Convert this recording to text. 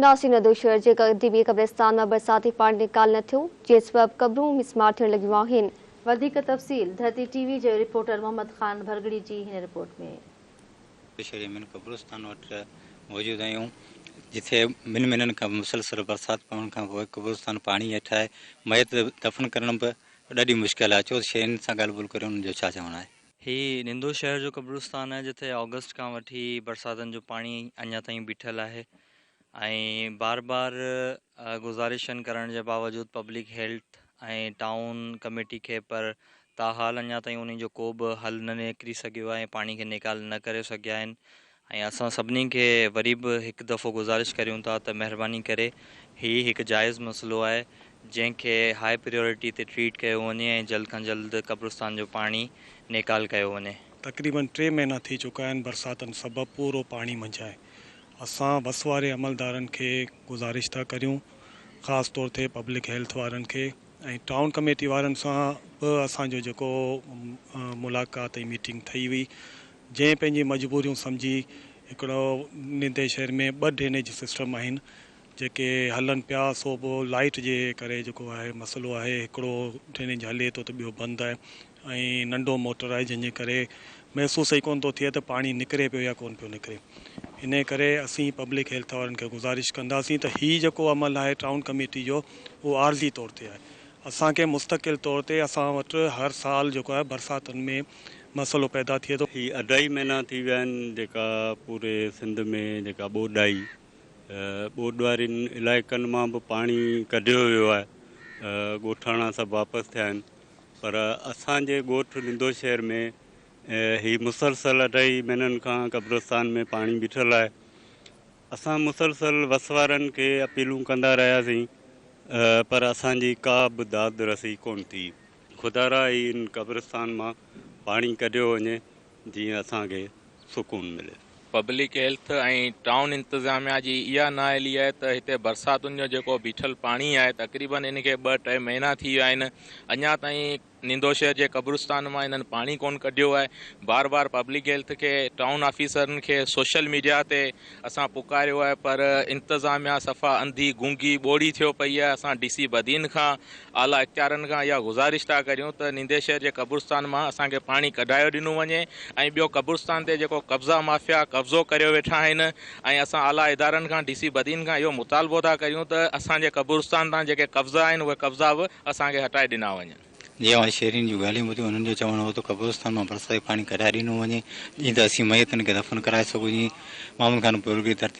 ناسي ندو شهر جي قديمي قبرستان مان برساتي پاڻي نيڪال نه ٿيو، جنهن سبب قبرون مسمار ٿيڻ لڳيون آهن. وڌيڪ تفصيل ڌرتي ٽي وي جي رپورٽر محمد خان ڀرڳڙي جي هن رپورٽ ۾. ندو شهر جي مين قبرستان وٽ موجود آهيون، جتي ٻن مهينن کان مسلسل برسات پوڻ کان پوء قبرستان پاڻي هيٺ آهي، ميت دفن ڪرڻ به ڏاڍي مشڪل آهي، ڇو ته شهرين سان ڳالهه ٻولهه ڪري انهن جو ڇا چوڻ آهي. هي نندو شهر جو قبرستان آهي جتي آگسٽ کان وٺي برساتن جو پاڻي اڃا تائين بيٺل آهي ۽ بار بار گذارشن ڪرڻ جي باوجود پبلڪ هيلٿ ۽ ٽائون ڪميٽي کي پر تاحال اڃا تائين انهن جو ڪو به حل نه نڪري سگهيو آهي پاڻي کي نيڪال نه ڪري سگهيا آهن ۽ اسان سڀني کي وري به هڪ دفعو گذارش ڪريون ٿا ته مهرباني ڪري هي هڪ جائز مسئلو آهي جنهن کي هاء پريورٽي تي ٽريٽ ڪيو وڃي ۽ جلد کان جلد قبرستان جو پاڻي نيڪال ڪيو وڃي. تقريبن ٽي مهينا ٿي چڪا آهن برساتن سبب پورو پاڻي منجهه آهي اسان بس واري عملدارن کي گذارش ٿا ڪريون خاص طور تي پبلڪ هيلٿ وارن کي ۽ ٽائون ڪميٽي وارن سان به اسان جو جيڪو ملاقات ۽ ميٽنگ ٿئي هئي جنهن پنهنجي مجبوريون سمجهي هڪڙو نندي شهر ۾ ٻه ڊرينيج سسٽم آهن جيڪي هلن پيا سو به لائيٽ جي ڪري جيڪو آهي مسئلو آهي هڪڙو ڊرينيج هلي ٿو ته ٻيو بند آهي ۽ ننڍو موٽر آهي جنهن جي ڪري محسوس ئي ڪونه ٿو ٿئي ته پاڻي نڪري پيو يا ڪونه پيو نڪري انهي ڪري اسين پبلڪ هيلٿ وارن کي گذارش ڪنداسين ته هي جيڪو عمل آهي ٽائون ڪميٽي جو اهو عارضي طور تي آهي اسان کي مستقل طور تي اسان وٽ هر سال جيڪو آهي برساتن ۾ مسئلو پيدا ٿئي ٿو. هي اڍائي مهينا ٿي ويا آهن جيڪا پوري سنڌ ۾ جيڪا ٻوڏ آئي ٻوڏ وارين علائقن مان به پاڻي ڪڍيو ويو آهي ڳوٺاڻا سڀ واپس ٿيا آهن پر اسان جي ڳوٺ لندو شهر ۾ هي مسلسل اڍائي مهينن کان قبرستان ۾ پاڻي بيٺل آهي اسان مسلسل وس وارن کي اپيلون ڪندا رهياسين پر اسان جي ڪا به داد رسي ڪون ٿي خدارا هي ان قبرستان مان پاڻي ڪڍيو وڃي جيئن اسان کي سڪون ملي. پبلڪ هيلٿ ۽ ٽائون انتظاميا جي اها نااهلي آهي ته هتي برساتن جو جيڪو بيٺل پاڻي آهي تقريبن ان کي ٻه ٽي مهينا ٿي ويا آهن اڃا تائين نيندو شهر جي قبرستان مان انهن پاڻي ڪونه ڪڍيو آهي بار بار پبلڪ هيلٿ کي ٽائون آفيسرن کي سوشل ميڊيا تي اسان پڪاريو آهي پر انتظاميا صفا انڌي گونگي ٻوڙي ٿيو پئي آهي اسان ڊي سي بدين کان اعليٰ اختيارن کان اها گذارش ٿا ڪريون ته نيندي شهر جي قبرستان مان اسان کي پاڻي ڪڍايو ڏنو وڃي ۽ ٻيو قبرستان تي جيڪو قبضا مافيا قبضو ڪريو ويٺا آهن ۽ اسان اعليٰ ادارن کان ڊي سي بدين کان اهو مطالبو ٿا ڪريون ته اسان جي قبرستان تان جيڪي قبضا آهن اهي قبضا به اسان کي هٽائي ڏنا وڃن. جي اوهان شيرين جون ڳالهيون ٻڌيون، انهن جو چوڻ هو ته قبرستان مان برساتي پاڻي ڪڍائي ڏنو وڃي، جيئن ته اسين ميتن کي دفن ڪرائي سگهجين. محمد خان پورهيي ترتيب.